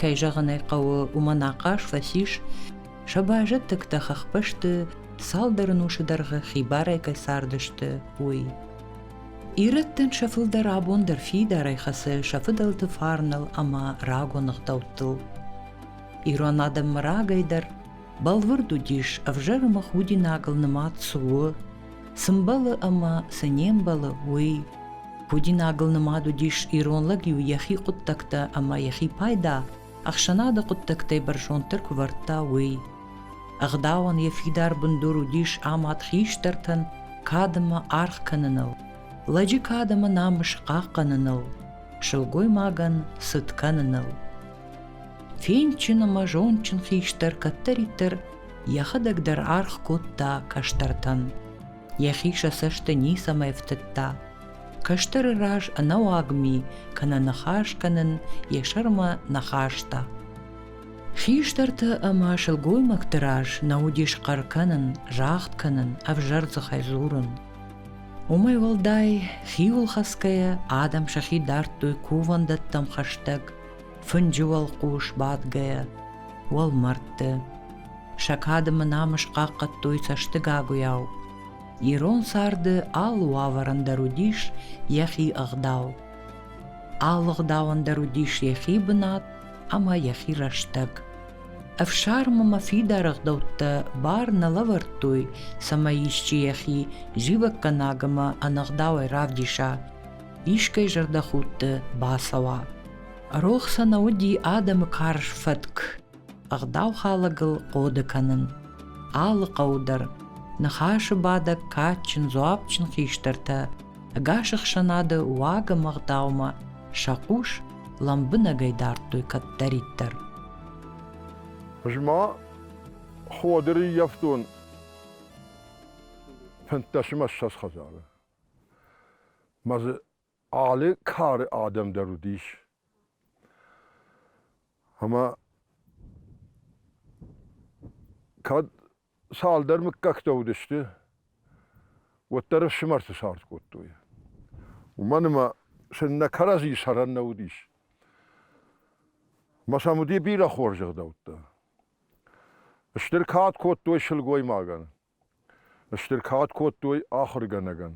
кӕй зӕгъын ӕй хъӕуы, уымӕн ахъаз фӕцис сӕ базӕттӕгтӕ хӕхбӕсты цалдӕр ӕнусы дӕргъы хибарӕй кӕй цардысты, уый. Ирӕттӕн сӕ фылдӕр абон дӕр фидарӕй хӕцы сӕ фыдӕлты фарныл ӕмӕ рагон ӕгъдӕуттыл. Ирон адӕммӕ рагӕй дӕр Бӕлвырд уыдис, ӕвзӕрымы худинагыл нымад цы у, цы мбӕлы ӕмӕ цы не мбӕлы, уый. Худинагыл нымад уыдис ирон лӕг-иу йӕхи хъуыддӕгтӕ ӕмӕ йӕхи пайда ӕхсӕнады хъуыддӕгтӕй бӕрзонддӕр куы вӕрдта, уый. Ӕгъдауӕн йӕ фидар бындур уыдис амад хистӕртӕн кад ӕмӕ аргъ кӕныныл, лӕджы кад ӕмӕ намыс хъахъхъӕныныл, сылгоймагӕн цыт кӕныныл. Финчын ӕмӕ зондджын хистӕр кӕддӕриддӕр йӕхӕдӕг дӕр аргъ кодта кӕстӕртӕн. Йӕхи сӕ цӕсты ницӕмӕй ӕфтыдта. Кӕстӕры раз ӕнӕуаг ми кӕнӕ ныхас кӕнын йӕ сӕрмӕ ныхӕста. Хистӕрты ӕмӕ сылгоймӕгты раз нӕ уыдис хъӕр кӕнын, загъд кӕнын, ӕвзӕр дзыхӕй дзурын. Уымӕй уӕлдай, хиуыл хӕцгӕйӕ адӕм сӕхи дардтой кувӕндӕттӕм хӕстӕг, Фынджы уӕлхъус бадгӕйӕ уӕлмӕрдты. Сӕ кады мӕ намыс хъахъхъӕдтой цӕстыгагуыйау. Ирон царды алы уавӕрӕн дӕр уыдис йӕхи ӕгъдау. Алы ӕгъдауӕн дӕр уыдис йӕхи бынат ӕмӕ йӕхи рӕстӕг. Ӕфсармы мӕ фидар ӕгъдӕуттӕ бар нӕ лӕвӕрдтой, цӕмӕй исчи йӕхи зивӕггӕнӕг ӕмӕ ӕнӕгъдауӕй равдиса. искӕй зӕрдӕхудты бацӕуа. Рох сӕ нӕ уыди адӕмы карз фӕтк, ӕгъдау халӕгыл хъоды кӕнын. Алы хъӕу дӕр, ныхасы бадӕг кадджын, дзуапджын хистӕртӕ ӕгас ӕхсӕнады уагы мӕгъдаумӕ сӕ хъус лӕмбынӕгӕй дардтой кӕддӕриддӕр. Ма Ходыры ӕййӕфтон фынддӕсмӕ ссӕдз хӕдзары. Мӕ дзы алы кары адӕм дӕр уыдис. Ӕмӕ кӕд цалдӕр мыггӕгтӕ уыдысты, уӕддӕр ӕфсымӕрты цард кодтой. Уымӕн ӕмӕ сын нӕ кӕрӕдзи сӕрӕн нӕ уыдис. Ӕмӕ сӕм уыди бирӕ хорз ӕгъдӕуттӕ. Стыр кад кодтой сылгоймагӕн. Стыр кад кодтой ахуыргӕнӕгӕн,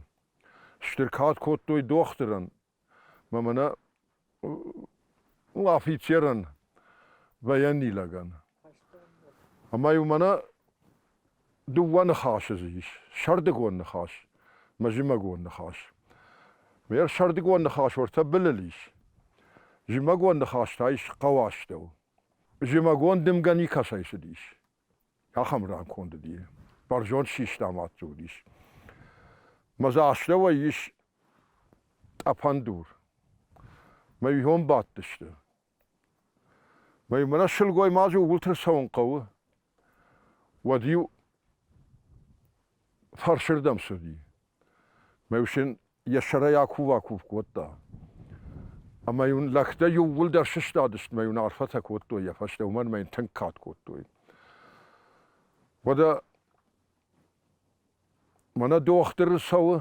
стыр кад кодтой дохтырӕн мӕ нӕ афицерӕн, военнилӕгӕн. Ӕмӕ-иу мӕнӕ дыууӕ ныхасы дзы ис: сӕрдыгон ныхас мӕ зымӕгон ныхас. Ме сӕрдыгон ныхас уӕртӕ былыл ис. Зымӕгон ныхас та ис хъӕуастӕу. Зымӕгон дымгӕ никӕцӕй цыдис. ахӕм рӕнхонд уыди, бӕрзонд систа мадты уыдис. Мӕ дзы астӕуӕй ис тъӕпӕн дур. Мӕ ион бадтысты. Мӕ мӕнӕ сылгоймаджы ууылты цӕуын хъӕуы. Уӕд-иу фӕрсырдӕм цыди. Ме фсин йӕ сӕрӕй акув-акув кодта. Ӕмӕ йын лӕгтӕ иууылдӕр сыстадысты мӕ йын арфӕтӕ кодтой йӕ фӕстӕ, уымӕн мӕ йын тынг кад кодтой. Уӕдӕ мӕнӕ дохтыр цӕуы,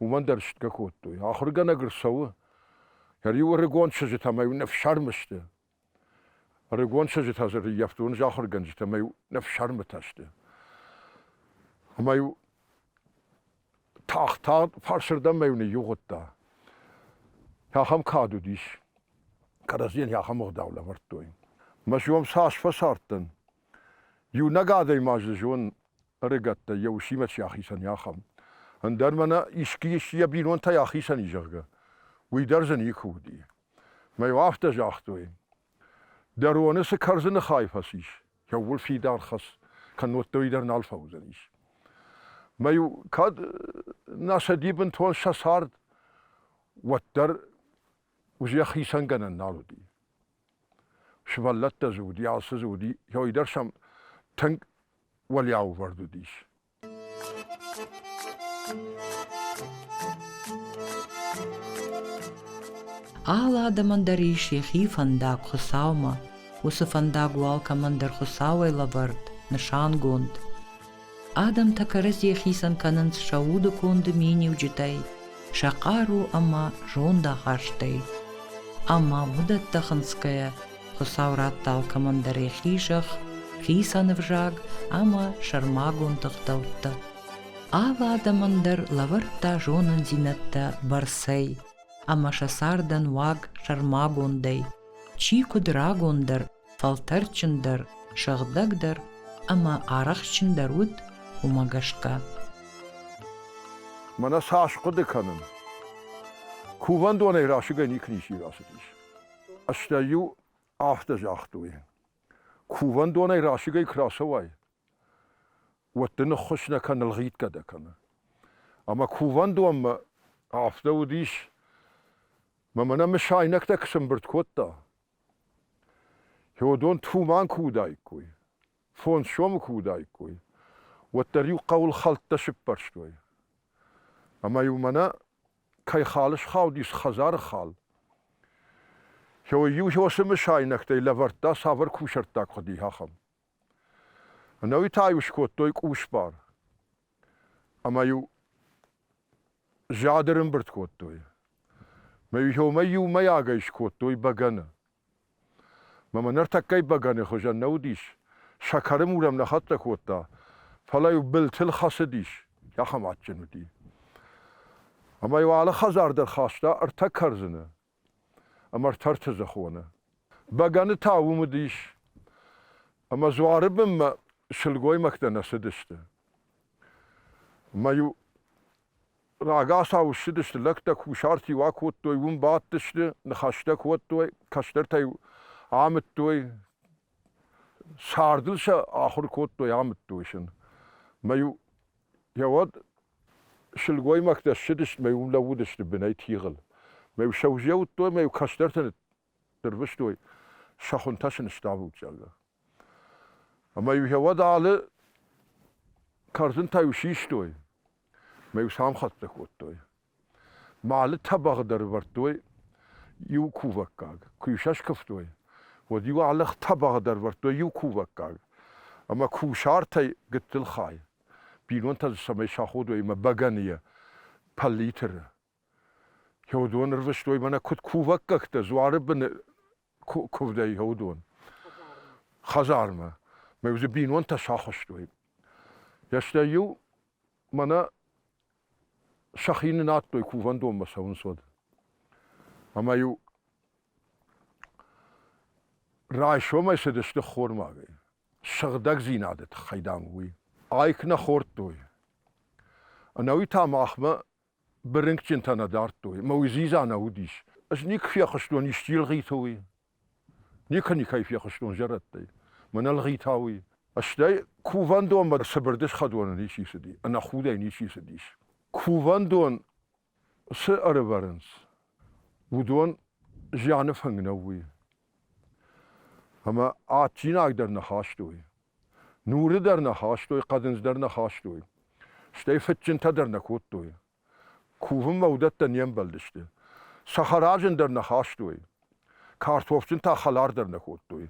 уымӕн дӕр стгӕ кодтой. Ахуыргӕнӕг ӕрцӕуы, йӕ риуы ӕрыгон чызджытӕ мӕ йын ӕфсӕрм сты. Ӕрыгон чызджытӕ дзы ӕрӕййӕфтон ӕз ахуыргӕнджытӕ ӕмӕ-иу ныфсӕрмытӕ сты. Ӕмӕ-иу тагъд-тагъд фарсырдӕммӕ-иу ныййугъыдта. Ахӕм кад уыдис. Кӕрӕдзийӕн йӕ ахӕм ӕгъдау лӕвӕрдтой. Мӕ сиом цас фӕцардтӕн. Иунӕг адӕймаг дзы зон ӕрыгӕттӕй йӕ усимӕ чи ахицӕн, ахӕм. Ӕндӕр мӕнӕ искӕй йӕ бинонтӕй ахицӕн и, зӕгъгӕ, уый дӕр дзы никуы уыди. Мӕ-иу афтӕ загътой, дӕ роны цы кӕрдзыны хай фӕцис, кӕуыл фидар хӕц, кӕннод дӕуи дӕр нал фӕуыдзӕнис. Мӕ-иу кӕд нӕ сӕди бынтон сӕ цард, уӕддӕр уызӕх хицӕн гӕнӕн нал уыди. Сывӕллӕттӕ дзы уыди, алцы дзы уыди, кӕуый дӕр сӕм тынг уӕлӕувӕрд уыдис. Алы адӕмӕн дӕр ис йӕхи фӕндаг Хуыцаумӕ. Уыцы фӕндаг у алкӕмӕн дӕр Хуыцауӕй лӕвӕрд, нысангонд. Адӕмтӕ кӕрӕдзи хицӕн кӕнынц сӕ уды конды миниуджытӕй, сӕ хъару ӕмӕ зондахастӕй. Ӕмӕ уыдӕттӕ хынцгӕйӕ, Хуыцау радта алкӕмӕн дӕр йӕхи зӕхх, хицӕн ӕвзаг ӕмӕ сӕрмагонд ӕгъдӕуттӕ. Алы адӕмӕн дӕр лӕвӕрдта зонындзинӕдтӕ бӕрцӕй ӕмӕ сӕ цардӕн уаг сӕрмагондӕй, чи куыд рагондӕр, фӕлтӕрджындӕр, сыгъдӕгдӕр ӕмӕ арӕхстджындӕр уыд, уымӕ гӕсгӕ. Мӕнӕ сӕ аскъуыды кӕнын. Кувӕндонӕй расыгӕй никуы ничи рацыдис. Стӕй-иу афтӕ загътой, кувӕндонӕй расыгӕй куы рацӕуай, уӕд дын ныххуыс нӕ кӕнын лгъитгӕ дӕ кӕны. Ӕмӕ кувӕндонмӕ афтӕ уыдис, мӕ нӕ мысайнӕгтӕ куы сӕмбырд кодта. Феодон Туман куы уыдаиккой, фондз сомы куы уыдаиккой, уӕддӕр-иу хъӕуыл хӕлттӕ сыппӕрстой. Ӕмӕ-иу мӕнӕ кӕй хал схаудис хӕдзары хал. Иу хёсы мысайнӕгтӕй лӕвӕрдта цавӕр кусӕрттаг хуыди, ахӕм. Ӕнӕуи та-иу скодтой къусбар. Ӕмӕ-иу зӕды рымбырд кодтой. Мӕ иу хёмӕй иумӕйагӕй скодтой бӕгӕны. Мӕмӕ ныртӕккӕйы бӕгӕны хуызӕн нӕ уыдис, сӕкӕры мур ӕм нӕ хӕццӕ кодта, фӕлӕ-иу былтыл хӕцыдис, ахӕм адджын уыди. Ӕмӕ-иу алы хӕдзар дӕр хаста ӕртӕ кӕрдзыны ӕмӕ ӕртӕ ӕртӕдзӕхоны. Бӕгӕны та уым уыдис, ӕмӕ дзуары бынмӕ сылгоймӕгтӕ нӕ цыдысты. Ӕмӕ-иу Рагацау ссыдысты лӕгтӕ, кусарт-иу акодтой, уым бадтысты, ныхӕстӕ кодтой, кӕстӕртӕ-иу амыдтой, цардыл сӕ ахуыр кодтой, амыдтой сын. Мӕ-иу йӕ уӕд сылгоймӕгтӕ ссыдысты, мӕ уым лӕууыдысты бынӕй тигъыл. Мӕ-иу сӕ уызӕуыдтой, мӕ-иу кӕстӕртӕ Дырвыстой сӕ хуынтӕ сыныстӕвут, зӕгъгӕ. Ӕмӕ-иу йӕ уӕд алы кӕрдзынтӕ-иу систой, ӕмӕ-иу сӕ амхӕццӕ кодтой. Малы тӕбӕгъы дӕр ӕвӕрдтой иу кувӕггаг. Куы-иу сӕ скуывтой, уӕд-иу ӕлых тӕбӕгъы дӕр ӕвӕрдтой иу кувӕггаг, ӕмӕ кусартӕй гыццыл хай. Бинонтӕ дзы цӕмӕй саходой ӕмӕ бӕгӕныйӕ пӕллиты Хеодон ӕрвыстой мӕнӕ куыд кувӕггӕгтӕ дзуары быны куывдӕй Хеодон хӕдзармӕ. Мӕ иу дзы бинонтӕ сахуыстой. Йӕ стӕй-иу мӕнӕ сӕхи нынадтой кувӕндонмӕ цӕуынц уӕд. Ӕмӕ-иу райсомӕй цыдысты ххормагӕй, сыгъдӕгдзинады тыххӕй, дам, уый. Айк нӕ хордтой. Ӕнӕуи та махмӕ Бырынкджынтӕ нӕ дардтой, мӕ уый дзидза нӕ уыдис. Ӕз никуы фехъуыстон исчи ӕлгъиты уый. Никуы никӕй фехъуыстон зӕрӕдтӕй. Мӕн ӕлгъита уый. Стӕй кувӕндонмӕ цыбыр дысхъӕдоны ничи цыди, ӕнӕхудӕй ничи цыдис. Кувӕндон цы ӕрывӕрынц, уыдон зианы фынг нӕу уый. Ӕмӕ адджинаг дӕр нӕ хастой. Нуры дӕр нӕ хастой, хъӕдындз дӕр нӕ хастой. Стӕй фыдджынтӕ дӕр нӕ кодтой. Кувынмӕ уыдӕттӕ не мбӕлдысты. Цӕхӕраджын дӕр нӕ хастой. Картофджын та хӕлар дӕр нӕ кодтой.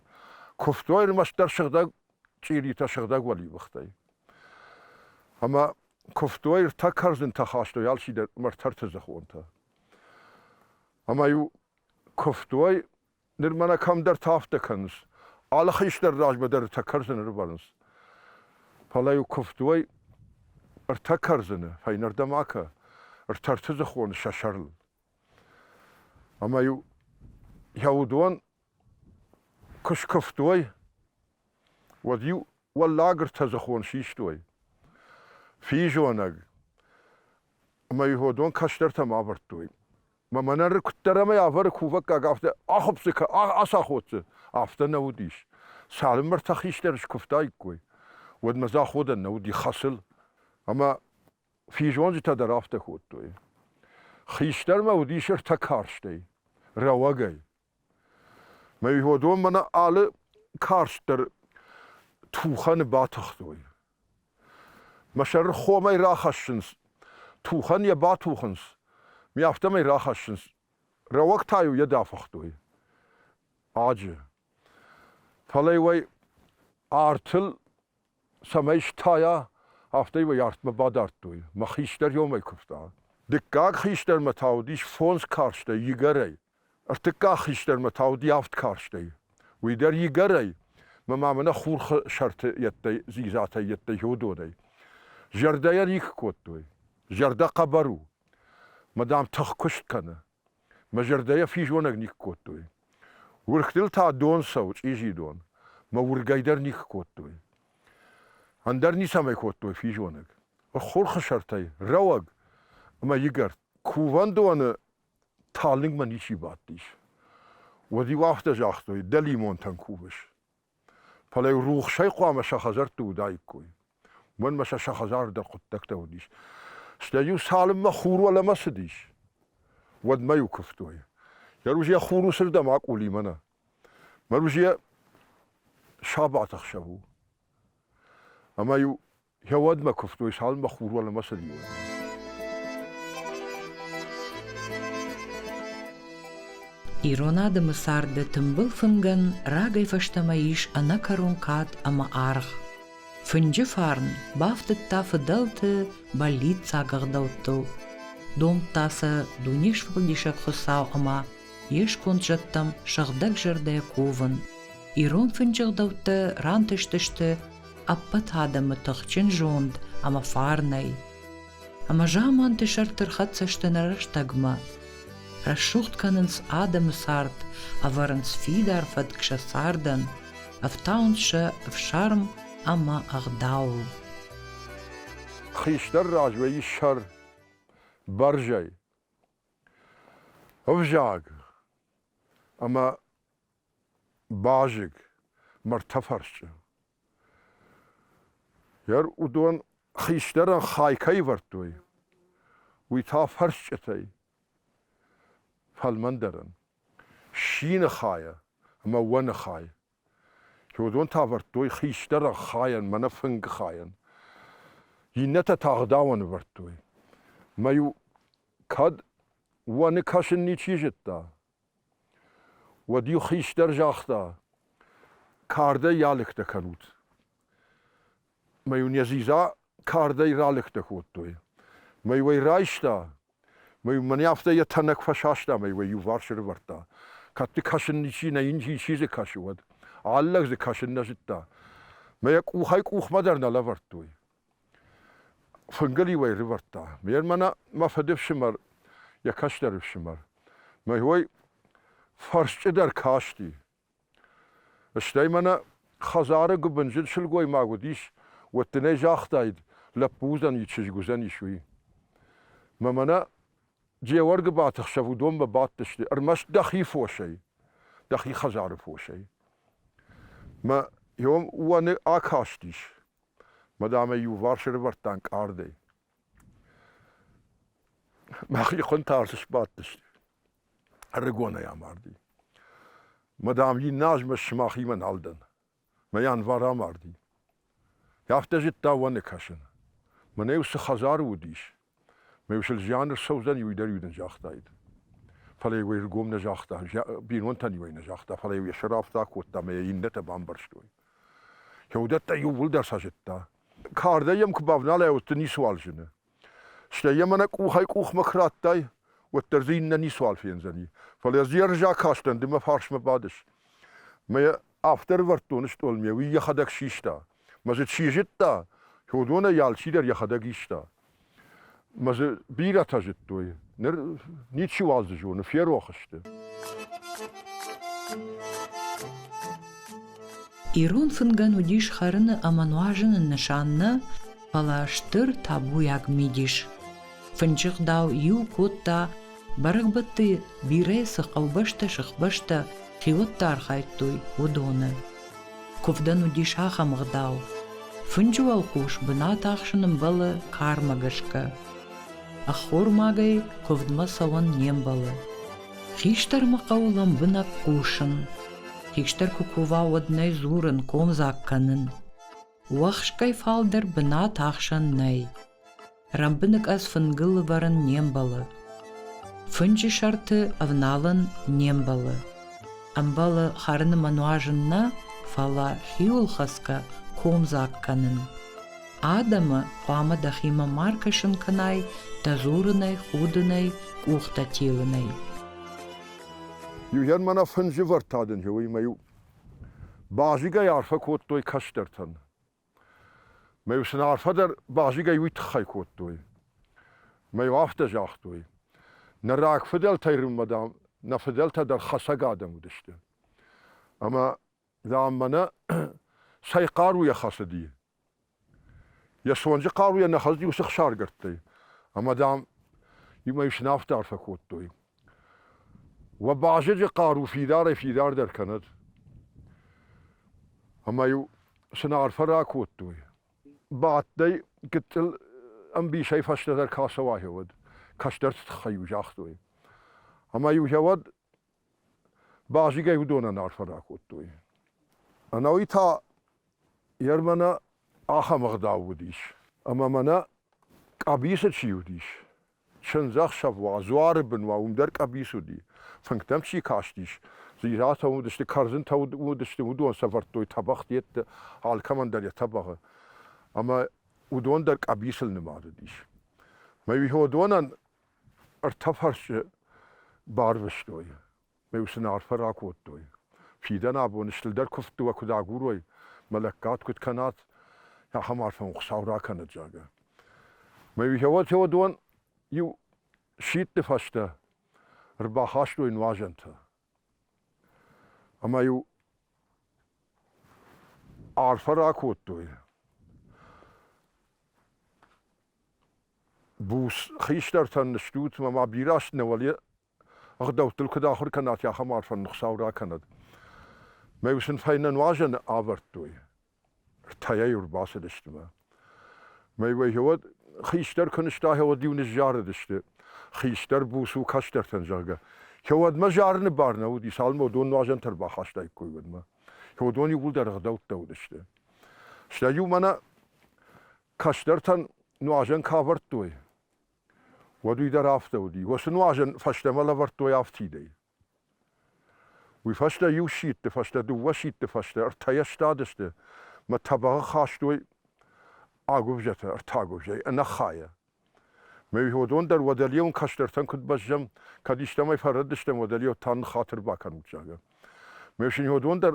Куывтой ӕрмӕстдӕр сыгъдӕг чъиритӕ, сыгъдӕг уӕливыхтӕй. Ӕмӕ куывтой, ӕртӕ кӕрдзынтӕ хастой алчидӕр ӕмӕ ӕртӕ ӕртӕдзыхонтӕ. Ӕмӕ-иу куывтой Ныр мӕнӕ кӕмдӕрты афтӕ кӕнынц. Алы хистӕр размӕ дӕр ӕртӕ кӕрдзыны рывӕрынц. Фӕлӕ-иу куывд уой ӕртӕ кӕрдзыны, фӕйнӕрдӕм акӕ, ӕртӕртыдзыхон сӕ сӕрыл. Ӕмӕ-иу йӕ уыдон куы скуывтой, уӕд-иу уӕллаг ӕртӕдзыхон систой. Физонӕг. Ӕмӕ-иу уыдон кӕстӕртӕм авӕрдтой. Мӕ мӕнӕры куыддӕр ӕмӕ авӕры кувӕггаг афтӕ ахуыпдзы кӕ ацаходдзы, афтӕ нӕ уыдис. Цалынмӕ ртӕ хистӕр скуывтаиккой, уӕдмӕ дзы аходӕн нӕ уыди хӕсыл. Ӕмӕ физонджытӕ дӕр афтӕ кодтой. Хистӕрмӕ уыдис ӕртӕ карстӕй, рӕуӕгӕй. Мӕ иуадонмӕ нӕ алы карст дӕр тухӕны батыхтой. Мӕ сӕр хомӕй рахӕссынц, тухӕн йӕ батухынц, ми афтӕмӕй рахӕссынц. Рӕуӕг та-иу йӕ дафыхтой аджы. Фӕлӕ уӕй артыл цӕмӕй стайа, афтӕ уӕ артмӕ бадардтой, мӕ хистӕр иомӕй куывта. Дыккаг хистӕрмӕ та уыдис фондз карстӕй игӕрӕй, ӕртыккаг хистӕрмӕ та уыди авд карстӕй. Уый дӕр игӕрӕй, мӕ ма мӕнӕ хурхы сӕрты йеддӕй, дзидзатӕй йеддӕй уыдонӕй. Зӕрдӕйӕ рих кодтой. Зӕрдӕ хъӕбӕр у. Мадам тыхкуыст кӕны. Мӕ зӕрдӕйӕ физонӕг никуы кодтой. Уыргътыл та дон цӕуы, чъизи дон. Мӕ уыргӕй дӕр никуы кодтой. Ӕндӕр ницӕмӕй кодтой физонӕг. Ӕххуырхы сӕртӕй рӕуӕг ӕмӕ игӕрд. Кувӕндоны талынгмӕ ничи бадтис. Уӕд-иу афтӕ загътой, дӕ лимонтӕн кувыс. Фӕлӕ рухсӕй хъуамӕ сӕ хӕдзӕртты уыдаиккой. Уымӕн ма сӕ сӕ хӕдзардӕр хъуыддӕгтӕ уыдис. Стӕй-иу цалынмӕ хур уӕлӕмӕ цыдис, уӕдмӕ-иу куывтой. Йӕ руз йӕ хур уыцырдӕм акъулимӕ нӕ. Мӕ руз йӕ сабаты хсӕв у. Ӕмӕ-иу Хеуадмӕ кувтой, салмӕ хур уӕлӕмӕ цыдиуй. Ирон адӕмы царды тымбыл фынгӕн рагӕй фӕстӕмӕ ис ӕнӕкӕрон кад ӕмӕ аргъ. Фынджы фарн бафтыдта фыдӕлты бӕллиццаг ӕгъдӕуттыл, домдта сӕ дуне сфӕлдисӕг Хуыцау ӕмӕ йе сконд зӕдтӕм сыгъдӕг зӕрдӕ ковын. Ирон фынджы ӕгъдӕуттӕ рантыстысты ӕппӕт адӕмы тыхджын зонд ӕмӕ фарнӕй. Ӕмӕ заманты сӕрты рхӕццӕ сты нӕ рӕстӕгмӕ. Рӕсугъд кӕнынц адӕмы цард, ӕвӕрынц фидар фӕтк сӕ цардӕн, ӕфтауынц сӕ ӕфсарм ӕмӕ ӕгъдауыл. Хистӕр раз вӕййы сӕр, бӕрзӕй. Ӕвзаг ӕмӕ Базыг, мӕрдтӕфӕрсчъы. Гӕр уыдон хистӕрӕн хай кӕй ӕвӕрдтой, уый та фӕрсчъытӕй, фӕлмӕндӕрӕн, ссины хайӕ ӕмӕ уӕны хай. Уыдон та ӕвӕрдтой хистӕрӕн хайӕн, мӕнӕ фынгы хайӕн. Иннӕтӕ та ӕгъдауӕн ӕвӕрдтой. Мӕ-иу кӕд уӕны кӕсын ничи зыдта, Уӕд-иу хистӕр загъта: «Кардӕй алыгтӕ кӕнут». Мӕ-иу нӕ дзидза кардӕй ралыгтӕ кодтой. Мӕ-иу ӕй райста, мӕ-иу мӕнӕ афтӕ йӕ тӕнӕг фӕсаста мӕ-иу ӕй иуварс ӕрӕвӕрдта. Кӕд дзы кӕсын ничи, нӕ йын ичи дзы кӕсы, уӕд. Ӕллӕг дзы кӕсын нӕ зыдта. Мӕ йӕ къухӕй-къухмӕ дӕр нӕ лӕвӕрдтой. Фынгыл-иу ӕй рывӕрдта. Ме рмӕнӕ мӕ фыдыфсымӕр, йӕ кӕстӕр ӕфсымӕр. Мӕй уой фӕрсчъыдӕр касти. Стӕй мӕнӕ хӕдзары гуыбынджын сылгоймаг уыдис, уӕд дын ӕй загътаид, лӕппу уыдзӕни, чызг уыдзӕнис, уый. Мӕ мӕнӕ Джеуӕргыбаты хсӕв уыдонмӕ бадтысты, ӕрмӕст дӕхи фосӕй, дӕхи хӕдзары фосӕй. Мӕ иом уӕны акастис. Мадамӕ иуварс ӕрӕвӕрдта ӕнкъардӕй. Мӕхи хуынтӕ арсы сбадтысты. Ӕрыгонӕй амарди. Мадам, йын назмӕ сымахимӕ нал дӕн. Мӕ январ амарди. Афтӕ зыдта уӕны кӕсын. Мӕнӕ уыцы хӕдзары уыдис, Ме усыл зиан ссӕудзӕн, уый дӕр-иу нын загътаид. Фӕлӕ-иу ӕй ргом нӕ загъта, бинонтӕн-иу ӕй нӕ загъта, фӕлӕ-иу йӕ сӕрӕфтӕ кодта мӕ йӕ иннӕтӕ бамбӕрстой. Йӕ уыдӕттӕ иууылдӕр сӕ зыдта. Кардӕй йӕм куы бавналай, уӕд дзы ницыуал зыны. Стӕй йӕ мӕнӕ къухӕй-къухмӕ куы радтай, уӕддӕр дзы иннӕ ницуал фендзӕни. Фӕлӕ ӕз йӕ ӕрзаг кастӕн, ды мӕ фарсмӕ бадыс. Мӕ Афтӕ ӕрывӕрд доны стъолмӕ, уый йӕхӕдӕг систа. Мӕ дзы чи зыдта, уыдонӕй алчидӕр йӕхӕдӕг иста. Мӕ дзы бирӕтӕ зыдтой. Ныр ничиуал дзы зоны, ферох сты. Ирон фынгӕн уыдис хӕрыны ӕмӕ нуазыны нысан нӕ, фӕлӕ стыр табуйаг мидис. Фынджы гъдау иу кодта, бӕрӕгбӕтты бирӕ цы хъӕубӕстӕ, сыхбӕстӕ хиуӕттӕ архайдтой, уыдоны. Куывдӕн уыдис ахӕм гъдау. Фынджы уӕлхъус бынат ахсын ӕмбӕлы кармӕ гӕсгӕ. Ӕххормагӕй куывдмӕ цӕуӕн не мбӕлы. Хистӕрмӕ хъӕуы лӕмбынӕг хъусын. Хистӕр куы кува, уӕд нӕ дзурын, комдзаг кӕнын. Уӕхскӕй фалдӕр бынат ахсӕн нӕй. Рӕмбыныкъӕдз фынгыл ӕвӕрын не мбӕлы. Фынджы сӕрты ӕвналын не мбӕлы. Ӕмбӕлы хӕрыны мӕ нуазын нӕ, фӕлӕ хиуылхӕцгӕ комдзаг кӕнын. Адӕмы хъуамӕ дӕхимӕ ма ркӕсын кӕнай, дӕ дзурынӕй, худынӕй, къухтӕ телынӕй. Иу хӕн мӕнӕ фынджы вӕртӕ дын и, уый мӕ иу Базигӕй арфӕ кодтой кӕстӕртӕн. Мӕ-иу сын арфӕ дӕр базигӕй уый тыххӕй кодтой. Мӕ-иу афтӕ загътой, нӕ рагфыдӕлтӕй Риммӕ, дам, нӕ фыдӕлтӕ дӕр хӕсӕг адӕм уыдысты. Ӕмӕ, дам, мӕнӕ цӕй хъаруйӕ хӕцыди, Йӕ цонджы хъаруйӕ нӕ хӕлд иу сых саргӕрдтӕй, ӕмӕ, дам, иу ӕй сынӕфты арфӕ кодтой. Уӕ базеджы хъару фидарӕй-фидардӕр кӕнӕд. Ӕмӕ-иу сын арфӕ ракодтой. Бадтӕй, гыццыл ӕмбисӕй фӕстӕдӕр кӕцӕуа гьеуӕд, кӕстӕрты тыххӕй-иу загътой. Ӕмӕ-иу гьеуӕд Базигӕй уыдонӕн арфӕ ракодтой. Ӕнӕуый та йе рмӕнӕ ахӕм ӕгъдау уыдис, ӕмӕ мӕнӕ къӕбицы чи уыдис, чындзӕхсӕв уа, дзуары бын уа, уым дӕр къӕбиц уыди. Фынгтӕм чи кастис, дзирӕтӕ уыдысты, кӕрдзынтӕ уыдысты, уыдон сӕвӕрдтой тӕбӕгъ дӕтты, алкӕмӕн дӕр йӕ тӕбӕгъы. Ӕмӕ уыдон дӕр къӕбицыл нымад уыдис. Мӕ уыдонӕн ӕртӕ фӕрсчы барвыстой. Ме усын арфӕ ракодтой. Фидӕн абон стылдӕр куывдты уӕ куыд агурой, мӕ лӕггад куыд кӕнат, ахӕм арфӕ Хуыцау ракӕнӕд, зӕгъгӕ. Мӕ феодон иу сидты фӕстӕ ӕрбахастой нуазӕнтӕ. Ӕмӕ-иу арфӕ ракодтой. Буц хистӕртӕн ныстут, ӕмӕ ма бирӕ аст нӕ уӕле ӕгъдӕуттыл куыд ахуыр кӕнат, ахӕм арфӕн ныхсау ракӕнӕд. Мӕ-иу сын фӕйнӕ нуазӕны авӕрдтой. ртӕйӕ-иу рбацыдысты мӕ. Мӕй уӕд хистӕр куы нызта, уӕд-иу ныззарыдысты, хистӕр буц у кӕстӕртӕн, зӕгъгӕ. Уӕдмӕ зарыны бар нӕ уыди, цалынмӕ уыдон нуазӕнтӕ ӕрбахастаиккой, уӕдмӕ. уыдон иууылдӕр ӕгъдӕуттӕ уыдысты. Стӕй-иу мӕнӕ кӕстӕртӕн нуазӕн куы авӕрдтой, уӕд уый дӕр афтӕ уыди. Уӕ цы нуазӕн фӕстӕмӕ лӕвӕрдтой афтидӕй. Уый фӕстӕ иу сидты фӕстӕ дыууӕ сидты фӕстӕ ӕртӕйӕ стадысты мӕ тӕбӕгъы хастой агуывзӕтӕ ӕртӕагуывзӕйы ӕнӕхайӕ. Мӕ уыдон дӕр уӕдӕлеон кӕстӕртӕн куыд бӕззӕм, кӕд истӕмӕй фӕрӕддыстӕм, уӕдӕлео та ныххатыр бакӕнут, зӕгъгӕ. Мӕ уыдон дӕр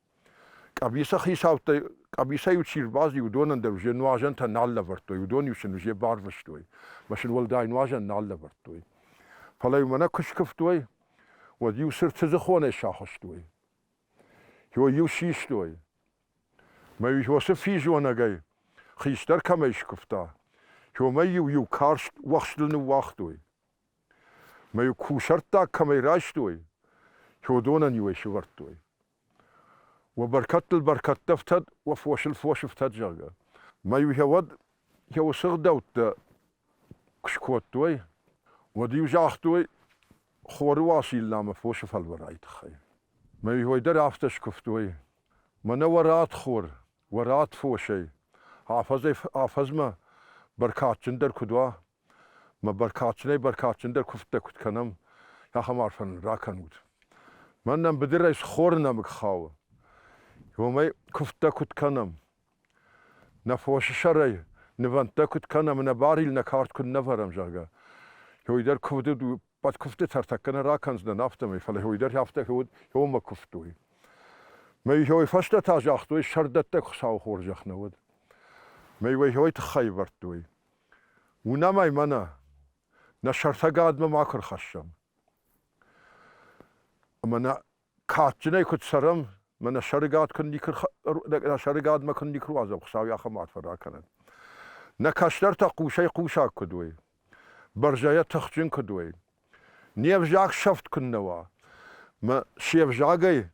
Къӕбиса хицӕуттӕй къӕбисӕ-иу чи рбаззи, уыдонӕн дӕр узе нуазӕнтӕ нал лӕвӕрдтой, уыдон-иу сын узе барвыстой, мӕ сын уӕлдай нуазӕн нал лӕвӕрдтой. Фӕлӕ-иу мӕнӕ куы скуывтой, уӕд-иу сырдты дзыхонӕй сахуыстой. Иу-иу систой. Мӕ-иу уыцы физонӕгӕй хистӕр кӕмӕй скуывта, уымӕй-иу иу карст уӕхстыл ныууагътой. Мӕ кусӕрттаг кӕмӕй райстой, уыдонӕн-иу ӕй сывӕрдтой. Уӕ бӕркӕдтыл бӕркӕдтӕ ӕфтӕд, уӕ фосыл фос ӕфтӕд, зӕгъгӕ. Мӕ-иу йӕ уӕд йӕ сыгъдӕуттӕ куы скодтой, уӕд-иу загътой хоры Уасиллӕмӕ фосы фӕлвӕрайы тыххӕй. Мӕ-иу ой дӕр афтӕ скуывтой, мӕнӕ уӕ ратт хор, уӕ ратт фосӕй, афӕдзӕй-афӕдзмӕ бӕркадджындӕр куыд уа, Мӕ бӕркадджынӕй-бӕркадджындӕр куывдтӕ куыд кӕнӕм, ахӕм арфӕ нын ракӕнут. Мӕн нӕм быдырӕй схоры нӕмыг хауы. Уымӕй куывдтӕ куыд кӕнӕм? Нӕ фосы сӕрӕй нывӕндтӕ куыд кӕнӕм, нӕ барил, нӕ кард куыд нӕ вӕрӕм, зӕгъгӕ. Уый дӕр куывды уӕд куывды тӕ ӕртӕккӕ нӕ ракӕндзынӕн афтӕмӕй, фӕлӕ уый дӕр афтӕ иомӕ куывтой. Мӕ фӕстӕ та загътой, сӕрдӕттӕг Хуыцауы хорзӕх нӕ уӕд. Мӕ уӕ тыххӕй ӕвӕрдтой. Уынӕм ӕй мӕнӕ, нӕ сӕртӕгадмӕ ма куы рхӕссӕм. Ӕмӕ нӕ кадджынӕй куыд цӕрӕм, мӕ нӕ сӕрыгад куыд никуы нӕ сӕрыгадмӕ куыд никуы руадзӕм, Хуыцау йӕ ахӕм арфӕ ракӕнӕд. Нӕ кӕстӕртӕ хъусӕй-хъусаг куыд уой, бӕрзӕйӕ тыхджын куыд уой, не взаг сӕфт куыннӕ уа, мӕ се взагӕй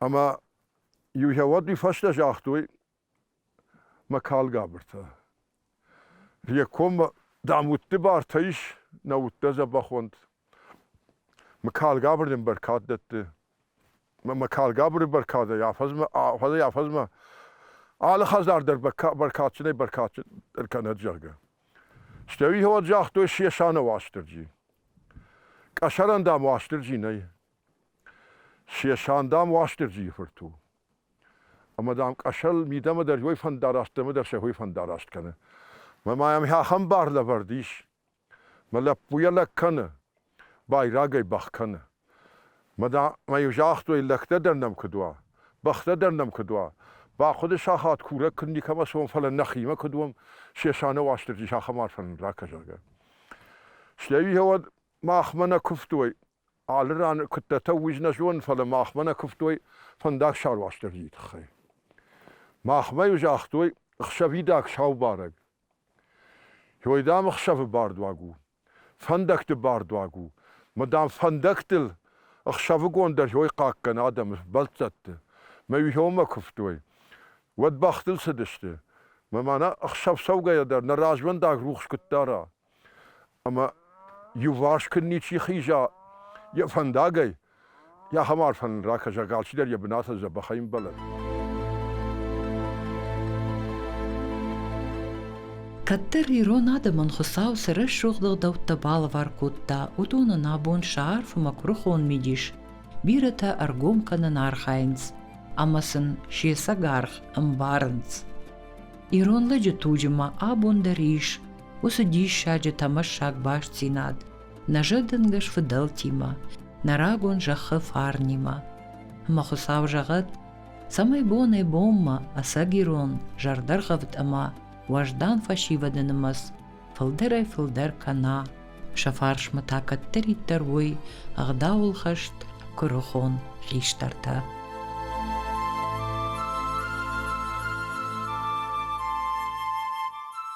Ӕма иу хӕуӕдуй фӕстӕ загътой мӕ калгабыртӕ. Йе коммӕ, дам, удти бартӕ ис, нӕ удтӕ дзӕбӕхонд. Мӕ калгабыр дин бӕркад дӕтти. Мӕ мӕ калгабури бӕркадӕй афӕдзмӕ, афӕдзӕй афӕдзмӕ алы хӕдзар дӕр бӕркадджынӕй бӕркадджын ӕркӕнӕд, зӕгъгӕ. Стӕй уый хӕуӕд загътой, се сӕнӕ Уастырджи. Къӕсӕрӕн, дам, Уастырджи нӕй. Се сан, дам, Уастырджийы фырт у. Ӕмӕ, дам, къӕсӕл мидӕмӕ дӕр йой фӕндараст, дӕмӕ дӕр сӕ хой фӕндараст кӕны. Мӕ ма йӕм ахӕм бар лӕвӕрд ис. Мӕ лӕппу йӕ лӕг кӕны, байраг ӕй бӕх кӕны. Мӕ дам ӕй загътой, лӕгтӕ дӕр нӕм куыд уа, бӕхтӕ дӕр нӕм куыд уа. Бахъуыды сахат курӕг куыд никӕмӕ цуам, фӕлӕ нӕхимӕ куыд уӕм, се саны Уастырджи сахӕм арфӕ нын ра, кӕзӕгъгӕ. Стӕй уый уӕд махмӕ нӕ куывтой, Алы ран куыддӕртӕ уый нӕ зонын, фӕлӕ махмӕ нӕ куывтой фӕндагсар Уастырджийы тыххӕй. Махмӕ-иу загътой ӕхсӕвидаг сау барӕг. Ой, дам, ӕхсӕвы бардуаг у, фӕндӕгты бардуаг у, мӕ дам, фӕндӕгтыл ӕхсӕвыгон дӕр ой хъахъхъӕн адӕмы бӕлццӕтты. Мӕ иугьоммӕ куывтой. Уӕд бӕхтыл цыдысты. Мӕ мӕнӕ ӕхсӕв цӕугӕйӕ дӕр нӕ развӕндаг рухс куыд дара. Ӕмӕ иуварс куыд ничи хиза йӕ фӕндагӕй, ахӕм арфӕ нын ракӕс, алчидӕр йӕ бынатыл дзӕбӕхӕй ӕмбӕлӕд. Кӕддӕр ирон адӕмӕн Хуыцау цы рӕсугъд ӕгъдӕуттӕ балӕвар кодта, уыдон ын абон сӕ арфмӕ куырыхон мидис, бирӕтӕ ӕргом кӕнын архайынц ӕмӕ сын се сӕг аргъ ӕмбарынц. Ирон лӕджы туджы ма абон дӕр ис уыцы диссаджы тӕмӕссаг бастдзинад нӕ зӕрдӕнгӕс фыдӕлтимӕ, нӕ рагон зӕххы фарнимӕ. Ӕмӕ Хуыцау зӕгъӕд, цӕмӕй бонӕй бонмӕ ӕцӕгирон, зӕрдӕргъӕвд ӕмӕ уӕздан фӕсивӕды нымӕц фылдӕрӕй-фылдӕр кӕна, сӕ фарсмӕ та кӕддӕриддӕр уой ӕгъдауыл хӕст куырыхон хистӕртӕ.